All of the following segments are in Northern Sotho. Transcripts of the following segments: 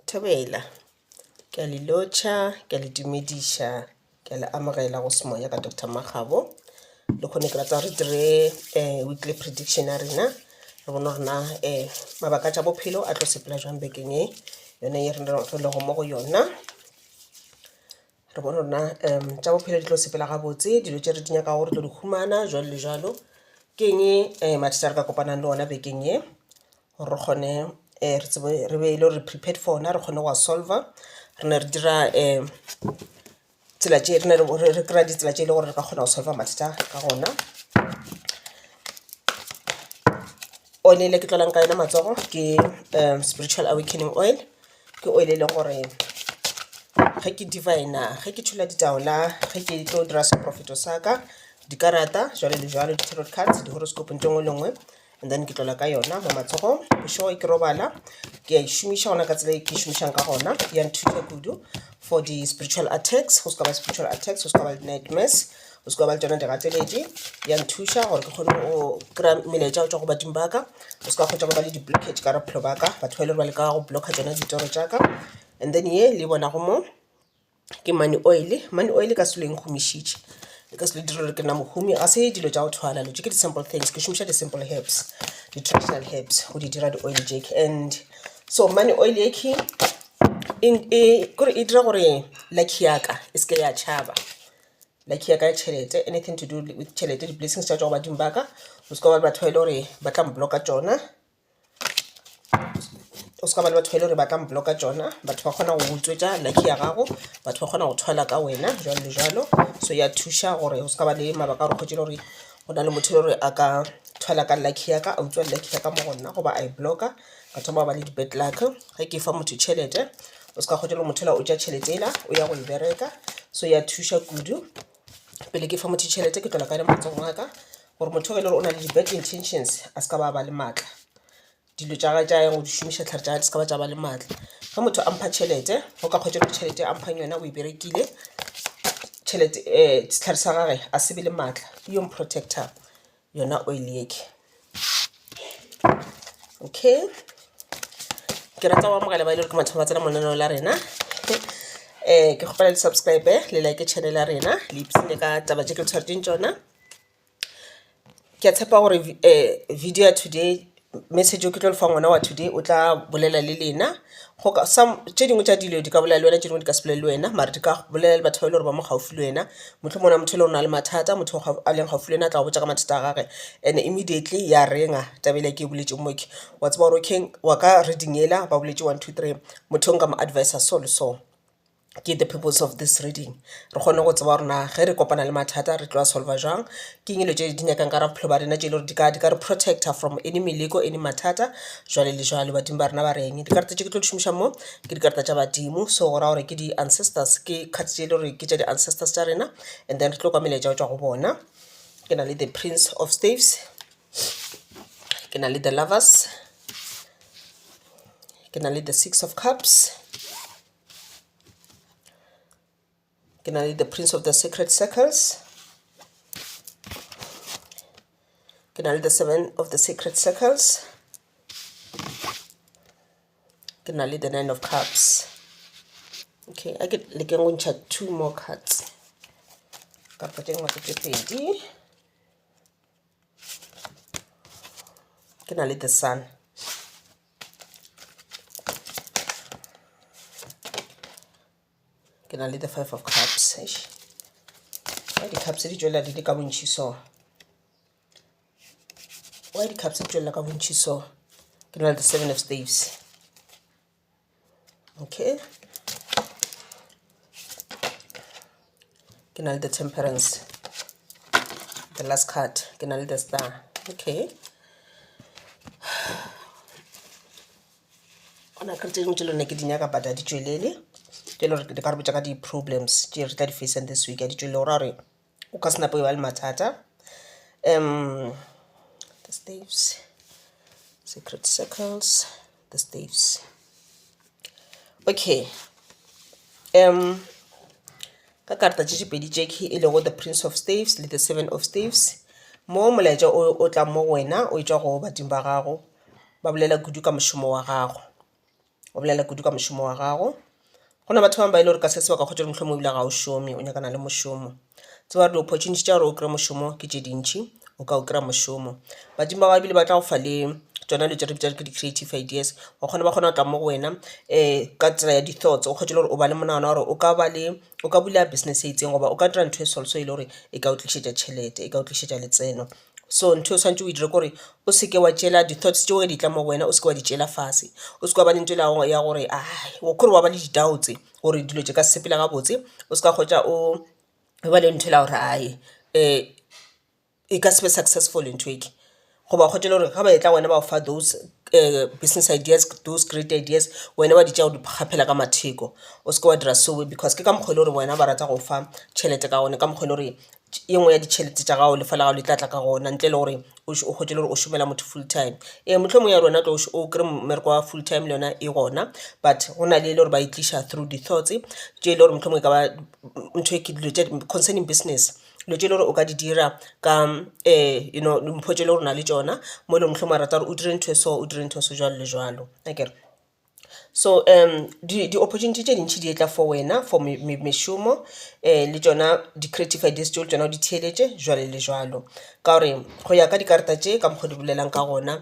Thobela, ke a le lotšha, ke a le dumediša, ke a le amogela go Semoya ka Doctor Makgabo. Le kgone ke rata re dire eh, weekly prediction ya rena re bone rena eh, mabaka tša bophelo a tlo sepela jwang bekeng e yone ye re lego mo go yona re bone rona um tša bophelo di tlo sepela gabotse dilo tše re di nyaka gore tlo di humana jalo le jalo ke eng um mathata re ka kopanang le ona bekeng e gore re kgone re tsebe re be e le gore re prepared for ona re kgone go a solver re ne re dira tsela tše re ne re kry-a ditsela tše e le gore re ka kgona go solver mathata ka gona. Oil e le ke tlolang ka yona matsogo ke Spiritual Awakening Oil, ke oil e leng gore ge ke divine-a ge ke tšhola ditaola ge ke tlo dira seporofeto sa ka, dikarata jwalo le jwalo di-tarot cards, di-horoscope nthwe e nngwe le e nngwe and then ke tlola ka yona mo matsogong bešo ke robala ke a e šomiša gona ka tsela e ke e šomišang ka gona ya nthuta kudu for di-spiritual attacks go se ka ba spiritual attacks go se ka ba di-nightmares go se ka ba le tsona digateledi ya nthuša gore ke kgone go kry-a melaetša go tswa go badimo ba ka go se ka kgotsa go ba le di-blockage ka bophelo ba ka batho ba e le gore ba le ka go blocka tsona ditoro tša ka and then ye le bonago mo ke money oil money oil ka selo e nkgomišitše e ka selo dira gore ke nna mohumi ga se dilo tša go thwala lo tše ke di-simple things ke šomiša di-simple herbs di-traditional herbs go di dira di-oil jake and so money oil eke kore e dira gore lucky yaka e seke ya tšhaba lucky yaka ya tšhelete anything to do with tšhelete di-blessings tša tšwa go badimo ba ka go seka ba le batho ba e le gore ba tla mblocka tšona o ska ba le batho ba e le gore ba ka mbloka tsona batho ba kgona go utswetsa lucky ya gago batho ba kgona go thwala ka wena jalo le jalo so ya thuša gore o ska ba le mabaka a gore kgotse le gore go na le motho e le gore a ka thwala ka lucky ya ka a utswa lucky ya ka mo go nna goba a e bloka ka thoma ba le di-bad luck ge ke fa motho tšhelete o ska kgotse le motho la o ja tšhelete ela o ya go e bereka so ya thuša kudu pele ke fa motho tšhelete ke tlola ka le motseng wa ka gore motho ge e le gore o na le di-bad intentions a se ka ba ba le maatla dilo tša gage tša yang go di šomiša tlhare tša gage di se ka ba tša ba le maatla ge motho a mpha tšhelete o ka kgwetša gore tšhelete a mphang yona o e berekile tšhelete um sehlare sa gage a se be le maatla ke yo mprotector. yona oil yake okay ke rata go amogela ba e le gore ke mathomo ba tsena monaneo la rena um ke kgopela le subscribe le like channel ya rena le ipsene ka taba tše ke le tshwaretseng tsona ke a tshepa gore um video ya today Message o ke tlo le fa ngwana wa today o tla bolela le lena go ka some tše dingwe tša dilo di ka bolela le wena tše dingwe di ka se bolele le wena mare di ka bolela le batho ba e le gore ba mo gaufi le wena. Mohlomongwe go na le motho e le gore o na le mathata motho o a leng gaufi le wena a tla go botša ka mathata a gage and immediately ya reng-a taba e le ya ke e boletšego mo ke wa tseba gore okay wa ka reading yela ba boletše one, two, three motho o nka mo advise-a so le so. ke the purpose of this reading. Re kgone go tseba gore na ge re kopana le mathata re tlo a solva jwang, ke eng e dilo tše di nyakang ka gare ga bophelo ba rena tše e le gore di ka di ka re protector from any meleko any mathata jwale le jwale. Badimo ba rena ba re eng? Dikarata tše ke tlo di šomišang mo ke dikarata tša badimo so go ra gore ke di-ancestors ke card tše e le gore ke tša di-ancestors tša rena and then re tlo kwa melaetša go tšwa go bona. Ke na le the prince of staves, ke na le the lovers, ke na le the six of cups, ke na le the prince of the sacred circles ke na le the seven of the sacred circles ke na le the nine of cups okay a ke lekeng go ntšha two more cards kapa tše ngwe ke tše pedi ke na le the sun ke na le the five of cups eish why di-cups di tšwelela di le ka bontšhi so why di-cups di tšwelela ka bontšhi so ke na le the seven of staves okay ke na le the temperance the last card ke na le the star okay gona ka tse dingwe tse lone ke di nyaka but a di tšwelele ke le gore di ka re botša ka di-problems tše re tla di facing this week a di tšwelele go ra gore o ka se nape o ba le mathata um the staves secret circles the staves okay um ka karata tše tšepedi tše ke e lego the prince of staves le the seven of staves mo molaetša o tla mo wena o e tšwa go badimo ba gago ba bolela kudu ka mošomo wa gago o bolela kudu ka mošomo wa gago go na batho ba bangwe ba e le gore ka se se ba ka kgotsa mohlomong ebile ga o šome o nyakana le mošomo tseba gore di-opportunity tša gore o kry-e mošomo ke tše dintšhi o ka o kry-a mošomo badimo ba gago ebile ba tla go fa le tsona dilo tše re bitšang ke di-creative ideas wa kgona ba kgona go tla mo go wena um ka tsela ya di-thoughts o kgone le gore o ba le monagano wa gore o ka ba le o ka bula business e itseng goba o ka dira ntho e so le so e le gore e ka o tlišetša tšhelete e ka o tlišetša letseno. So ntho e swanetše o e dire kore o seke wa tšela di thoughts tšeo ge di tla mo go wena o seke wa di tšela fase. O seke wa ba le ntho ya gore kore wa ba le di doubts gore dilo tše ka se sepela gabotse. O seka hwetša o ba le ntho e la gore ae e ka se be successful ntho e. Goba o kgotše le gore ge ba etla go wena ba gofa those business ideas, those great ideas wena wa di tšea wa di kgaphela ka matheko. O seke wa dira seo because ke ka mokgo e le gore wena ba rata go fa tšhelete ka gona ka mokgo e le gore e nngwe ya ditšhelete tša gago lefa la gago le tla tla ka gona ntle le gore o hwetše le gore o šomela motho full time. Ee mohlomongwe ya rona tlo o kry-e mmereko wa full time le yona e gona but go na le e le gore ba e tliša through di-thoughts tše e le gore mohlomongwe e ka ba ntho e ke dilo tše concerning business. Dilo tše e le gore o ka di dira ka you know dimpho tše e le gore o na le tšona mo e leng gore mohlomongwe wa rata gore o dire ntho e so o dire ntho e so jwalo le jwalo akere. So di opportunity tše dintši di etla for wena for mešomo le tšona di creative ideas tšeo le tšona o di theeletše jwalo le jwalo. Ka gore go ya ka dikarata tše ka mokgo di bolelang ka gona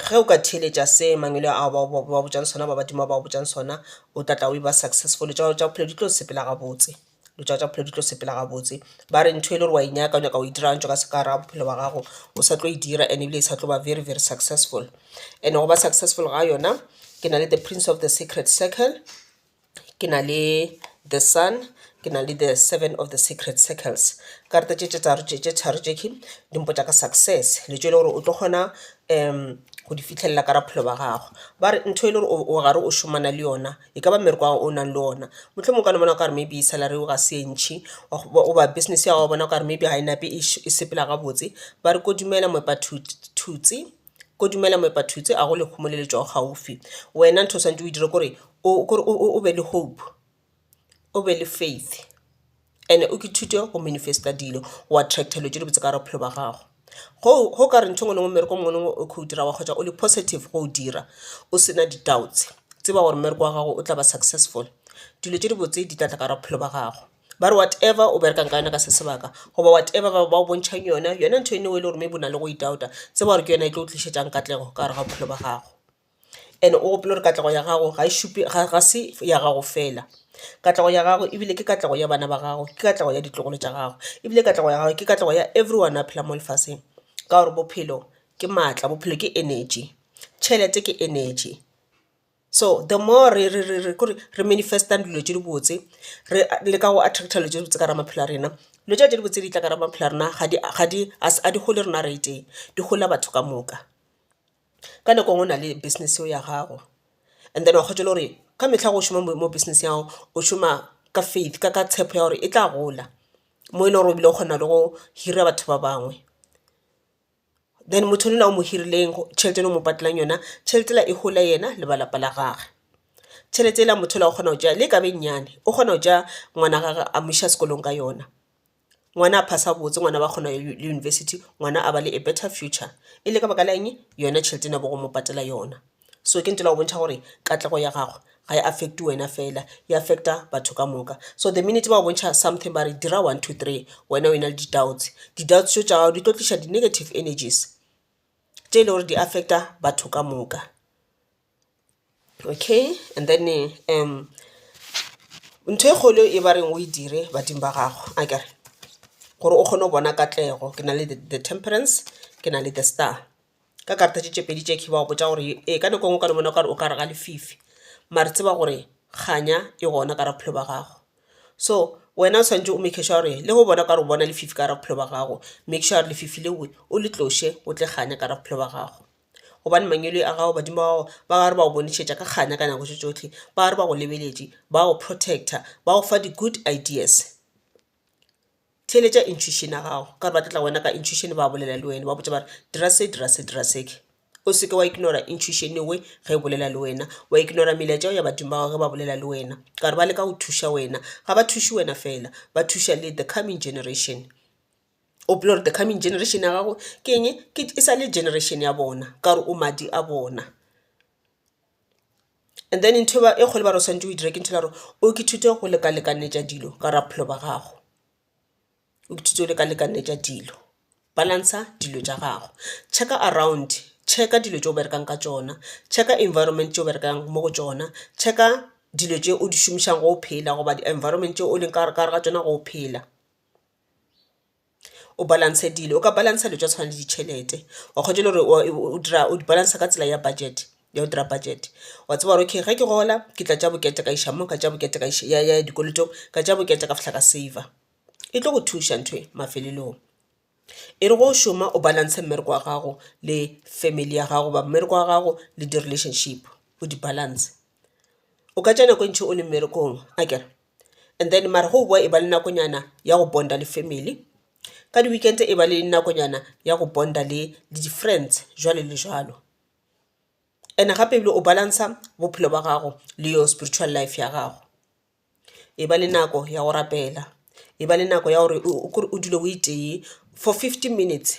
ge o ka theeletša se mangwele ao ba ba botšang sona ba badimo ba ba botšang sona o tla tla o e ba successful tša gago tša bophelo di tlo sepela gabotse. Dilo tša tša bophelo di tlo sepela gabotse. Ba re ntho e le gore wa e nyaka o nyaka go e dira gantši o ka se ka ra bophelo bja gago o sa tlo e dira and ebile e sa tlo ba very very successful. And-e go ba successful ga yona ke na le the prince of the secret circle, ke na le the sun, ke na le the seven of the secret circles. Karate tše tše tharo tše king di mpotša ka success le tše e le gore o tlo kgona go di fihlella ka ra bophelo ba gago. Ba re ntho e le gore o gare o šomana le yona. e ka ba mmereko wa gago o nang le ona mohlomongwe o ka no bona o ka re maybe salary ya gago ga se e ntšhi goba business ya gago wa bona o ka re maybe ga e nape e sepela gabotse. Ba re kodumela moepa thutse, kodumela moepa thutse a go lekgomo le le tšwago gaufi. Wena ntho o swanetše o e dire ke gore o be le hope, o be le faith. and o ithute go manifest-a dilo wa attractor dilo tše dibotse ka gare ga bophelo bja gago. Go go kare ntho engwe le engwe mmereko mongwe le mongwe o kho o dirago kgotsa o le positive go o dira o sena di doubts tseba gore mmereko wa gago o tla ba successful. Dilo tše dibotse di tla tla ka gare ga bophelo bja gago ba re whatever o berekang ka yona ka se sebaka goba whatever ba ba go bontšhang yona, yona ntho eno e le gore maybe o na le go e doubt-a tseba gore ke yona e tlo go tlišetšang katlego ka gare ga bophelo bja gago. and o gopole gore katlego ya gago ga e šupe ga se ya gago fela. Katlego ya gago e bile ke katlego ya bana ba gago, ke katlego ya ditlogolo tša gago e bile katlego ya gago ke katlego ya everyone a phelang mo lefaseng. Ka gore bophelo ke maatla, bophelo ke energy, tšhelete ke energy. So the more re re re re kore re manifest-ang dilo tše dibotse re leka go attractor dilo tše dibotse ka gare ga maphelo a rena, dilo tšela tše dibotse di tla ka gare ga maphelo a rena ga di ga di ga di gole rena re le tee di golela batho ka moka. Ka nako nngwe o na le business yeo ya gago and then wa kgotšwa le gore ka mehla ge o šoma mo business ya gago o šoma ka faith ka tshepo ya gore e tla gola mo e le gore o bile o kgona le go hira batho ba bangwe. Then motho yola o mo hirileng tšhelete yela o mo patalang yona tšhelete yela e hole yena le ba lapa la gage. Tšhelete yela motho yola o kgona go tšea le e ka ba e nyenyane o kgona go tšea ngwana wa gagwe a mo iša sekolong ka yona. Ngwana a pass-a botse, ngwana a ba kgona le university, ngwana a ba le a better future. E le ka baka la eng? Yona tšhelete ena bo go mo patela yona. So ke ntho e la go bontšha gore katlego ya gagwe ga e affect-e wena fela, e affect-a batho ka moka. So the minute ba go bontšha something ba re dira one, two, three wena o e na le di-doubts, di-doubts tšeo tša gago di tlo tliša di-negative energies tše e le gore di affect-a batho ka moka. Okay and then um ntho e kgolo e ba reng o e dire badimo ba gago akere gore o kgone go bona katlego ke na le the temperance ke na le the star ka karata tše tše pedi tše ba go botša gore ee ka nako e nngwe o ka no bona o ka re o ka re ga lefifi mare tseba gore kganya e gona ka gare ga bophelo ba gago so wena o swanetše o make sure gore le ge o bona o ka re o bona lefifi ka gare ga bophelo ba gago make sure gore lefifi leo o le tloše o tle kganya ka gare ga bophelo ba gago. gobane mangwele a gago badimo ba gago ba re ba go bonišetša ka kganya ka nako tše tšohle ba re ba go lebeletše ba go protector ba go fa di-good ideas theeletša intuition ya gago ka gore ba tla tla go wena ka intuition ba bolela le wena ba botša ba re dira se dira se dira se o se ke wa ignora intuition e ngwe ge e bolela le wena wa ignora melaetša ya badimo ba gago ge ba bolela le wena ka gore ba leka go thuša wena ga ba thuše wena fela ba thuša le the coming generation. O bolella gore the coming generation ya gago ke eng? Ke e sa le generation ya bona ka gore o madi a bona. And then ntho e kgolo e ba re o swanetše o e dire ke ntho e le ya gore o ithute go leka-lekanyetša dilo ka gare ga bophelo ba gago. O ithute go leka-lekanyetša dilo, balancer dilo tša gago. Check-a around, check-a dilo tše o berekang ka tšona, check-a environment tše o berekang mo go tšona, check-a dilo tše o di šomišang ge o phela goba di-environment tše o leng ka gare ga tšona ge o phela. o balance dilo o ka balance dilo tsa tshwana le ditšhelete wa kgotsa le gore o dira o di balance ka tsela ya budget ya go dira budget wa tseba gore okay ge ke gola ke tla tša bokete ka iša mo ka tša bokete ka iša mo ya dikolotong ka tša bokete ka fihla ka saver e tlo go thuša ntho e mafelelong. E re ge o šoma o balance mmereko wa gago le family ya gago goba mmereko wa gago le di relationship o di balance o ka tša nako e ntši o le mmerekong akere. and then mara go bowa e ba le nakonyana ya go bond-a le family. Ka di-weekend e ba le nakonyana ya go bond-a le le di-friends jwalo le jwalo. Ene gape ebile o balance-a bophelo ba gago le your spiritual life ya gago. E ba le nako ya go rapela, e ba le nako ya gore o kore o dule o itee for fifteen minutes.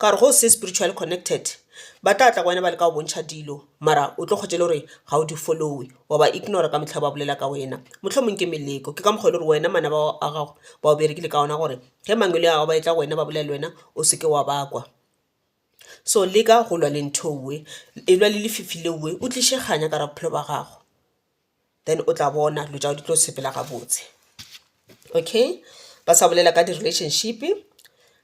Ka gore ge o se spiritually connected ba tla tla go wena ba leka go bontšha dilo mara o tlo kgotša e le gore ga o di follow-e wa ba ignora ka mehla ba bolela ka wena. Mohlomong ke meleko ke ka mokgwa e le gore wena manaba a gago ba o berekile ka ona gore ge mangwele a gago ba etla go wena ba bolela le wena o se ke wa ba kwa. So leka go lwa le ntho e, e lwa le lefifi leo o tliše kganya ka gare ga bophelo ba gago. then o tla bona dilo tša gago di tlo sepela gabotse. Okay ba sa bolela ka di relationship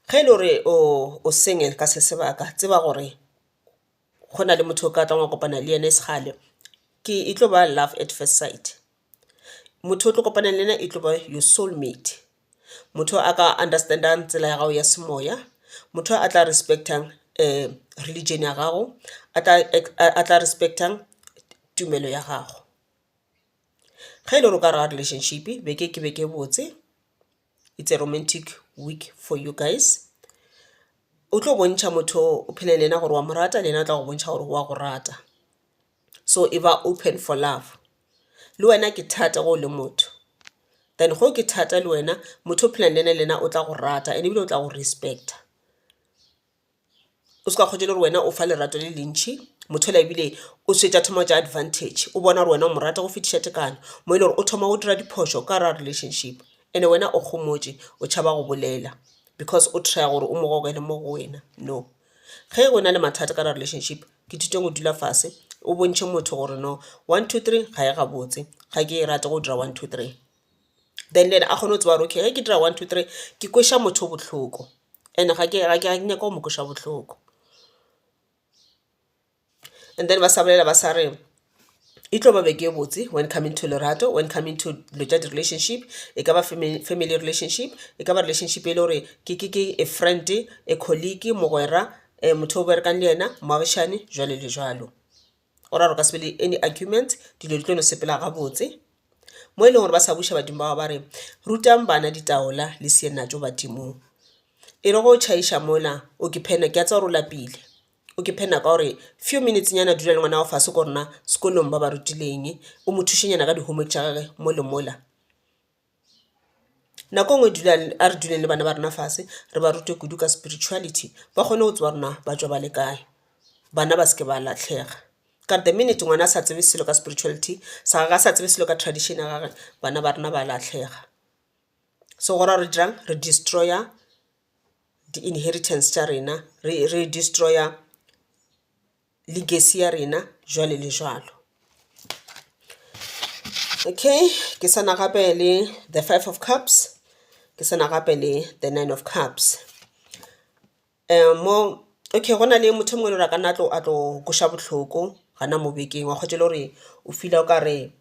ge e le gore o single ka se sebaka tseba gore go na le motho o ka tlang wa kopana le ene e se kgale ke e tlo ba love at first sight. Motho o tlo kopanang le ena e tlo ba your soul mate motho a ka understand-ang tsela ya gago ya semoya, motho a tla respect-ang religion ya gago, a tla a tla respect-ang tumelo ya gago. Ge e le gore o ka raga relationship beke ke beke e botse, it's a romantic week for you guys, o tlo bontšha motho o phelang le yena gore wa mo rata le yena o tla go bontšha gore wa go rata. so e ba open for love le wena ke thata ge o le motho then ge ke thata le wena motho o phelang le ena le yena o tla go rata and ebile o tla go respecta o se ka kgotša le gore wena o fa lerato le le ntšhi motho la ebile o swetša thoma tša advantage o bona gore wena o mo rata go fetiša tekano mo e le gore o thoma go dira diphošo ka gare ga relationship and-e wena o kgomotše o tšhaba go bolela because o try gore o mo gogele mo go wena no. Ge o na le mathata ka relationship ke thute go dula fase o bontšhe motho gore no one two three ga e gabotse ga ke e rate go dira one two three then le ena a kgone go tseba gore okay ge ke dira one two three ke kweša motho bohloko and-e ga ke nyake go mo kweša bohloko. And then ba sa bolela ba sa re e tlo ba beke e botse when coming to lerato, when coming to dilo tša di-relationship. E ka ba family relationship, e ka ba relationship e le gore ke a friend, a colleague, mogwera, motho o berekang le yena, moagišane jwalo le jwalo. Go ra gore go ka se be le any argument, dilo di tlo no sepela gabotse. Mo e leng gore ba sa buša badimo ba gago ba re, rutang bana ditaola le badimong. E re ge o tšhaiša mola o ke phena ke a tseba gore o lapile. O ke phe nako ya gore few minutes nyana dula le ngwana gago fase ko gore na sekolong ba ba rutile eng, o mo thuše nyana ka di homework tša gage mo le mola. Nako e ngwe dula a re duleng le bana ba rena fase re ba rute kudu ka spirituality ba kgone go tseba gore na ba tšwa ba le kae, bana ba seke ba latlhega. Ka the minute ngwana a sa tsebe selo ka spirituality sa gage a sa tsebe selo ka tradition ya gagwe bana ba rena ba latlhega. So go ra gore re dirang re destroy-a di-inheritance tša rena, re re destroyer legacy ya rena jwale le jwalo. Okay ke sa na gape le the five of cups, ke sa na gape le the nine of cups. Mo okay go na le motho e mongwe e le gore a ka nna a tlo a tlo kweša bohloko gana mo bekeng wa kgwatša e le gore o feel-a o ka re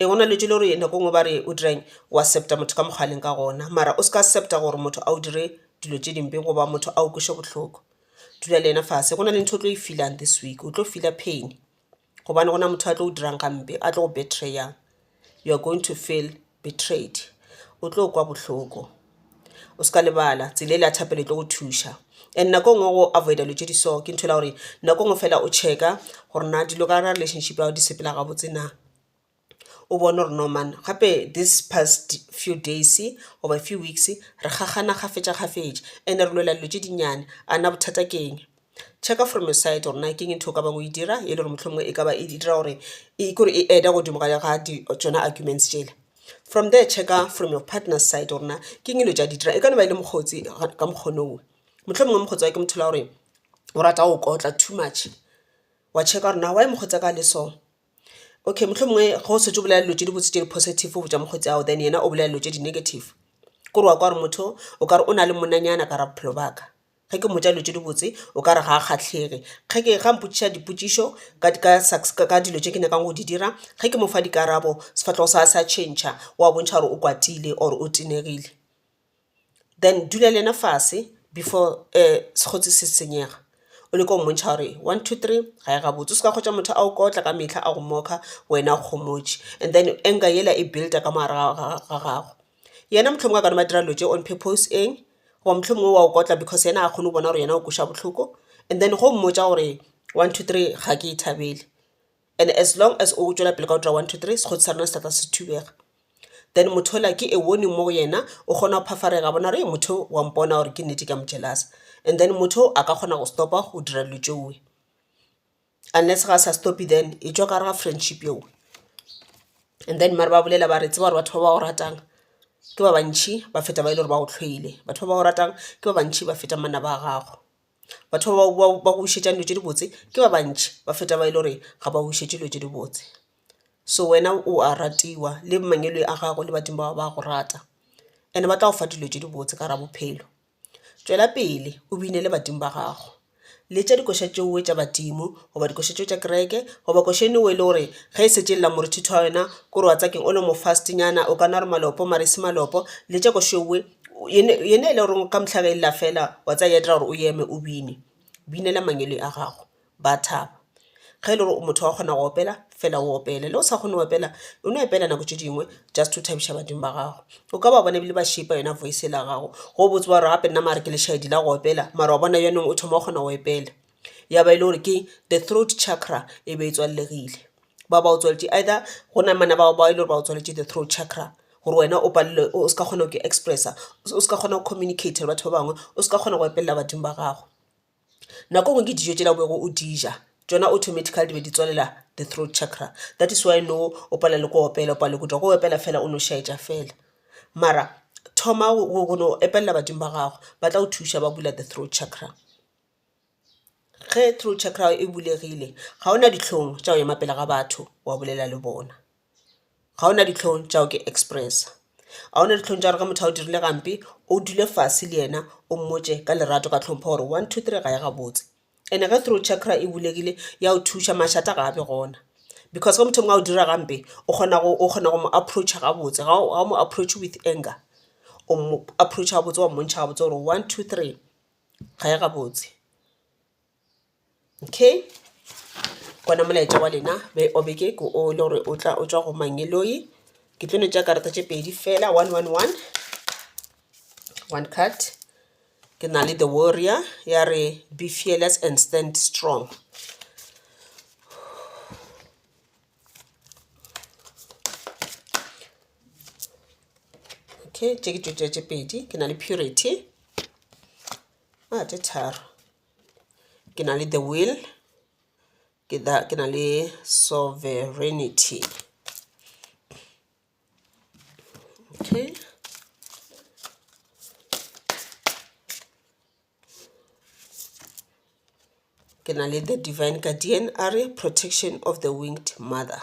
Ee, go na le dilo gore nako e nngwe ba re o dira eng, o accepta motho ka mokgwa a leng ka gona mara o se ka accepta gore motho a go dire dilo tše dimpe goba motho a go kweše bohloko. Dula le yena fase, go na le ntho e o tlo e feel-ang this week, o tlo feel-a pain gobane go na le motho a tlo go dirang gampe, a tlo go betray-ang. You are going to feel betrayed, o tlo kwa bohloko. O se ka lebala tsela ele ya thapelo e tlo go thuša. And nako e nngwe go avoid-a dilo tše di so ke ntho e le ya gore nako e nngwe fela o check-a gore na dilo ka gare ga relationship ya gago di sepela gabotse na, o bone gore no man gape this past few days goba few weeks re kgakgana kgafetša kgafetša and-e re lwela dilo tše dinnyane a na bothata ke eng. Check from your side gore na keng e ntho e o ka bang o e dira e le gore mohlomongwe e ka ba e dira gore e kore e add-a godimo ga tšona arguments tšela. From there check from your partner side gore na keng e le tša di dira. E ka no ba e le mokgotsi ka mokgono o, mohlomongwe mokgotsi wa ke motho wa gore o rata go kotla too much wa check gore na why mokgotsi wa ka a le so. Okay mohlomongwe ge o setse o bolela dilo tše dibotse tše di positive go tša mokgotsi ao then yena o bolela dilo tše di negative. Ke gore wa kwa gore motho o ka re o na le monna nyana ka gare ga bophelo ba ka. Ge ke mmotša dilo tše dibotse o ka re ga a kgahlege, ge ke ga mpotšiša dipotšišo ka ka dilo tše ke nyakang go di dira ge ke mo fa dikarabo sefahlogo sa gagwe sa tšhentšha wa bontšha gore o kwatile or o tenegile. Then dula le yena fase before sekgotse se senyega o leke go mmontšha gore one, two, three ga e gabotse. O se ka kgotša motho a go kotla ka mehla a go mock-a wena o kgomotše and then anger yela e build-a ka mogare ga gago. Yena mohlomongwe a ka no ba dira dilo tše on purpose eng goba mohlomongwe wa o kotla because yena ga kgone go bona gore yena o kweša bohloko and then ge o mmotša gore one, two, three ga ke e thabele. And as long as o tšwela pele ka go dira one, two, three sekgotho sa rena se tla tla se thubega. Then motho yola ke a warning mo go yena o kgona go phafareka a bona gore motho o wa mpona gore ke nnete ke a mo jealous-a and then motho o a ka kgona go stop-a go dira dilo tšeo. unless ga sa stop-e then e tšwa ka gare ga friendship yeo. And then mare ba bolela ba re tseba gore batho ba ba go ratang ke ba bantšhi ba feta ba e le gore ba go hloile. Batho ba ba go ratang ke ba bantšhi ba feta manaba a gago. Batho ba ba go wišetšang dilo tše dibotse ke ba bantšhi ba feta ba e le gore ga ba go wišetše dilo tše dibotse. So wena o a ratiwa le mangwele a gago le badimo ba gago ba a go rata and-e ba tla go fa dilo tše dibotse ka gare ga bophelo. Tšwela pele o binele badimo ba gago. Letša dikoša tšeo tša badimo, goba dikoša tšeo tša kereke, goba koša e nngwe e le gore ge e šetše e lla morutithi wa wena, ko re wa tsakeng o le mofastinyana, o ka nwa re malopo mare e se malopo, letša koša ewe yena e le goreng ka mohla ge e lla fela wa tsaya ya dira gore o eme o bine. Binela mangwele a gago. ba a thaba. Ge e le gore o motho wa go kgona go opela fela o opele, le o sa kgone go opela o no opela nako tše dingwe just to thabiša badimo ba gago. O ka ba bona ebile ba šeipa yona voice yela ya gago go botse wa re gape nna mare ke lešaedi la go opela mara wa bona jaanong o thoma go kgona go opela. Ya ba e le gore ke the throat chakra e be e tswallegile, ba ba o tswaletše either go namana bao ba e le gore ba o tswaletše the throat chakra gore wena o palelwe o se ka kgona go expressa, o se ka kgona go communicate le batho ba bangwe, o se ka kgona go epelela badimo ba gago. Nako ngwe ke dijo tšela o bego o dija tšona automatically di be di tswalela the throat chakra that is why now o palelwa le ke go opela o palelwa ke go dira ke go opela fela o no šaetša fela. Mara thoma go no epelela badimo ba gago ba tla go thuša ba bula the throat chakra. Ge throat chakra ya gago e bulegile ga ona dihlong tša go ema pele ga batho wa bolela le bona. ga ona dihlong tša gago ke expressa ga ona dihlong tša gore ge motho a go dirile gampe o dule fase le yena o mmotše ka lerato ka hlompho gore one two three ga e gabotse. And-e ge throat chakra e bulegile ya go thuša mašata ga a be gona because ge motho o mongwe a go direla gampe o kgona go o kgona go mo approach-a gabotse ga o ga o mo approach-e with anger o mo approach-a gabotse wa mmontšha gabotse gore one two three ga e gabotse. Okay gona molaetša wa lena be o beke ke o le gore o tla o tšwa go mang e loyi ke tlo le tša karata tše pedi fela one one one one card ke na le the warrior ya re be fearless and stand strong okay tše ke tšo tšea tše pedi ke na le purity a tše tharo ke na le the will ke da ke na le sovereignty okay ke na le the divine guardian a re protection of the winged mother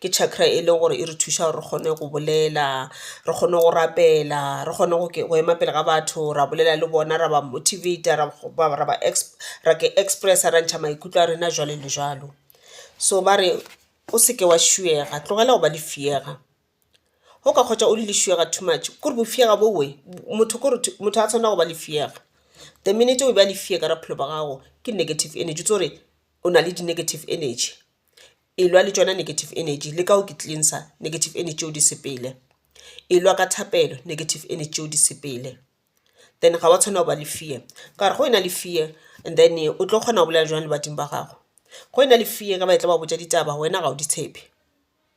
Ke chakra e leng gore e re thuša gore re kgone go bolela, re kgone go rapela, re kgone go go ema pele ga batho ra bolela le bona ra ba motivate-a ra ba ra ke express-a ra ntšha maikutlo a rena jwalo le jwalo. So ba re o se ke wa tlogela go ba lefšega, ge o ka hwetša o le lefšega too much kore bofšega bo wee motho kore motho ga a tshwanela go ba lefšega. The minute o e ba lefšega ka bophelo ba gago ke negative energy o itse gore o na le di-negative energy. E lwa le tšona negative energy le ka o ke tlileng sa negative energy tšeo di sepele. E lwa ka thapelo negative energy tšeo di sepele. Then ga wa tshwanela go ba le fear ka gore ge o na le fear and then o tlo kgona go bolela jwang le badimo ba gago. Ge o na le fear ge ba etla ba botša ditaba wena ga o di tshepe.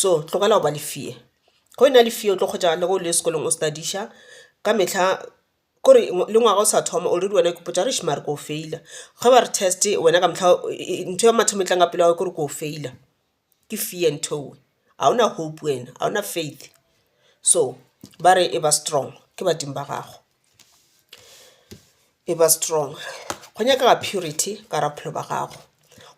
So tlogela go ba le fear, ge o na le fear o tlo kgotša le ge o le sekolong o study-ša ka mehla kore le ngwaga o sa thoma already wena o ipotša gore eish mare ko feila. Ge ba re test wena ka mohla ntho ya mathomo e tlang ka pelo ya gao kore ko feila, ke fear ntho eo ga ona hope wena ga ona faith. So ba re e ba strong ke badimo ba gago. e ba strong go nyakega purity ka gare ga bophelo bja gago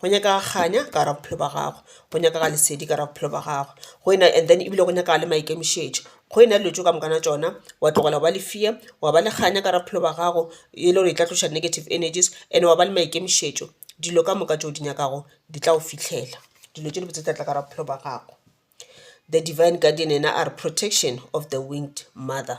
go nyakega kganya ka gare ga bophelo bja gago go nyakega lesedi ka gare ga bophelo bja gago go ena and then ebile go nyakega le maikemišetšo go ena dilo tše ka moka tša tšona wa tlogela go ba le fear wa ba le kganya ka gare ga bophelo bja gago e le gore e tla tloša negative energies and wa ba le maikemišetšo dilo ka moka tše o di nyakago di tla go fihlela dilo tše dibotse di tla tla ka gare ga bophelo bja gago. The Devine Guardian ena a re protection of the winged mother.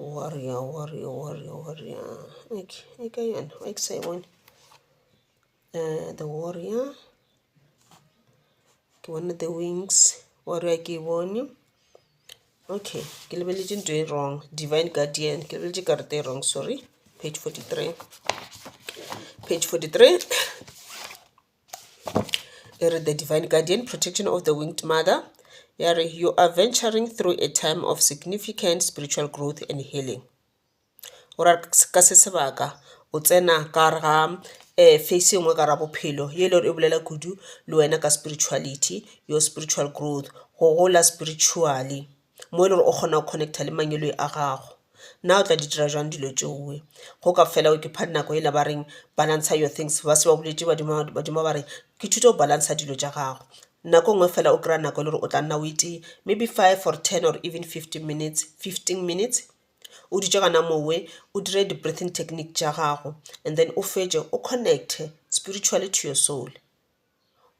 Warrior, warrior, warrior, warrior. Okay, e ka yona, wa ke sa e bone. Uh, the warrior. Ke bone the wings. Warrior ke e bone. Okay, ke lebeletše nto e wrong. Divine Guardian, ke lebeletše karata e wrong, sorry. Page 43. Page 43. e re the divine guardian protection of the winged mother ya re you are venturing through a time of significant spiritual growth and healing o ra ka se sebaka o tsena ka gare ga um face e nngwe ka ra bophelo ye e le gore e bolela kudu le wena ka spirituality your spiritual growth go gola spiritually. mo e le gore o kgona go connecta le mangwele a gago. Na o tla di dira jwang dilo tšewe go ka fela o ke pha nako ela ba reng balance your things ba se ba boletše badimo ba re ke thuto go balance dilo tša gago. Nako ngwe fela o kry-a nako e le gore o tla nna o itee maybe five or ten or even fifteen minutes, fifteen minutes o dutše gona mowe o dire di breathing technique tša gago and then o fetše o connecte spiritually to your soul.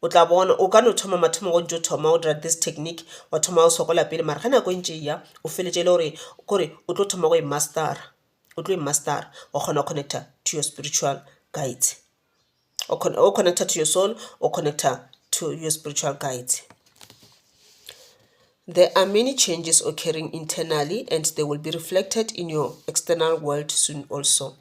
o tla bona o ka no thoma mathomo go ntšo thoma o dira this technique wa thoma o sokola pele mara ge nako e ntše eya o feletše e le gore kore o tlo thoma go e mastera o tlo e mastera wa kgona go connecta to your spiritual guides o connecta to your soul o connecta to your spiritual guides. There are many changes occurring internally and they will be reflected in your external world soon also.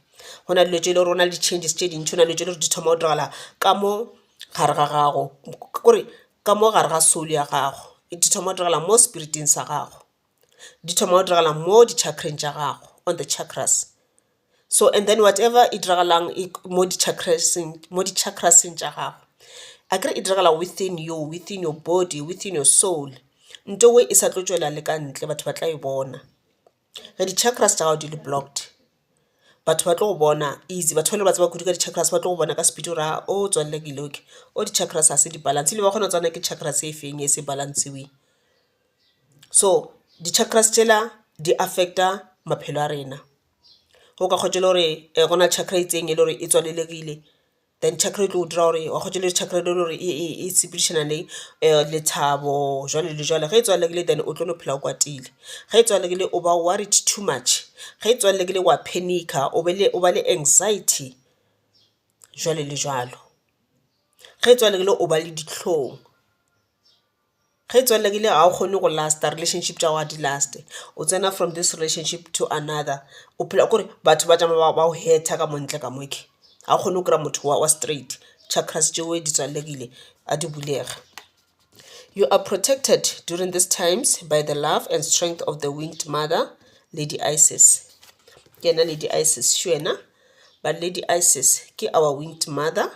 Go na le dilo tše e le gore go na le di-changes tše dintši go na le dilo tše e le gore di thoma go diragala ka mo gare ga gago kore ka mo gare ga soul ya gago di thoma go diragala mo spiriting sa gago di thoma go diragala mo di-chakreng tša gago on the chakras. So and then whatever e diragalang mo di mo di tša gago, akere e diragala within you, within your body, within your soul. Nto e e sa tlo tšwela le ka ntle batho ba tla e bona. Ge di tša gago di le blocked batho ba tlo go bona easy, batho bale ba tseba kudu ka di ba tlo go bona ka speed gore aa o tswalela ke ile okay, o di ga se di balance ebile ba kgona go tseba na ke e feng e se balance-weng. So di tšela di affect-a maphelo a rena. go ka kgotsa e le gore go na le chakra e itseng e le gore e tswalelegile then chakra e tlo dira gore wa kgotsa e le chakra e le gore e sepedišana le lethabo jwalo le jwalo. Ge e tswalegile then o tlo no phela o kwatile, ge e tswalegile o ba worried too much, ge e tswalegile wa panic-a o be le o ba le anxiety jwalo le jwalo, ge e tswalegile o ba le dihlong. Ge e tswalela ke le ga o kgone go last-a relationship tša gago ga di last-e. O tsena from this relationship to another o phela kore batho ba tšama ba go hurter ka mo ntle ka mo ga o kgone go kry-a motho wa straight. Chakras tšeo di tswalelekile a di bulega. You are protected during this times by the love and strength of the winged mother, Lady Isis. Ke yena Lady Isis šo yena. Ba Lady Isis ke our winged mother.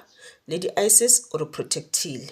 Lady Isis o re protect-ile.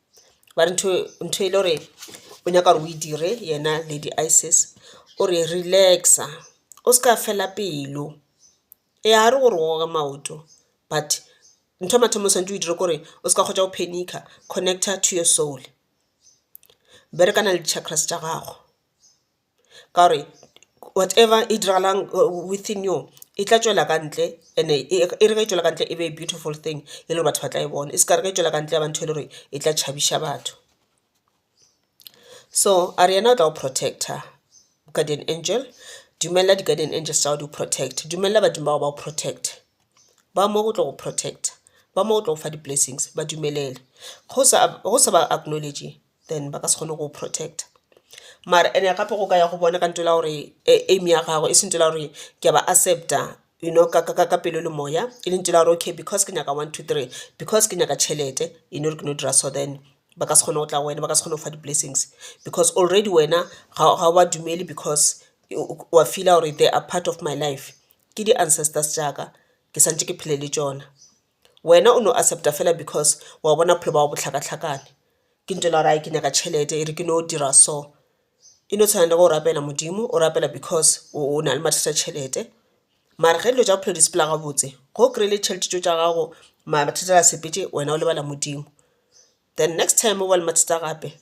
ba re ntho e le gore o nyaka gore o e dire yena lady isis o re relax-a o se ka fela pelo ee ga re gore o goge maoto but ntho ya mathomo o swanetše o e dire kore o se ka hwetša o phenikga connecter to your soul berekana le di-chakras tša gago. ka gore whatever e diragalang within you e tla tšwela ka ntle and-e e re ge e tšwela ka ntle e be e beautiful thing e le gore batho ba tla e bona e se ka re ge e tšwela ka ntle ya ba ntho e le gore e tla tšhabiša batho. So a re yena o tla go protector guardian angel, dumelela di-guardian angels tša gago di go protecte, dumelela badimo ba gago ba go protecte ba mo go tlo go protector, ba mo go tlo go fa di-blessings ba dumelele go sa ba acknowledge-e. then ba ka se kgone go go protector. Mara ene gape go ka ya go bona ka ntwela gore aim ya gago e seng ntwela gore ke a ba accept-a you know ka pelo le moya e le ntwela gore okay because ke nyaka one, two, three because ke nyaka tšhelete you know ke no dira so then ba ka se kgone go tla go wena ba ka se kgone go fa di-blessings because already wena ga o ba dumele because o a feel-a gore they are part of my life. Ke di-ancestors tša ka ke sa ntše ke phele le tšona. Wena o no accepta fela because wa bona bophelo ba gago bo hlakahlakane. Ke ntše le gore ke nyaka tšhelete e re ke no dira so. E no tshwana le ge o rapela Modimo o rapela because o na le mathata a tšhelete. Mara ge dilo tša bophelo di sepela gabotse ge o kry-ile tšhelete tšeo tša gago mathata a sepetše wena o lebala Modimo. Then next time o ba le mathata gape.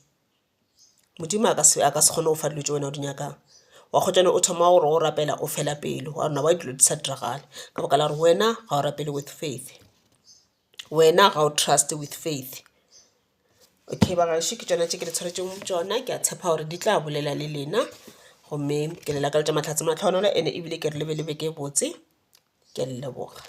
Modimo a ka se a ka se kgone go fa dilo tše wena o di nyakang. Wa kgotsa o thoma gore o rapela o fela pelo wa re why dilo di sa diragale ka baka la gore wena ga o rapele with faith. Wena ga o trust with faith. Okay ba gaešo ke tšona tše ke le tshwaretseng tšona ke a tshepa gore di tla bolela le lena gomme ke le lakaletša mahlatse mahlohonolo ene ebile ke re le be le beke e botse. Ke a le leboga.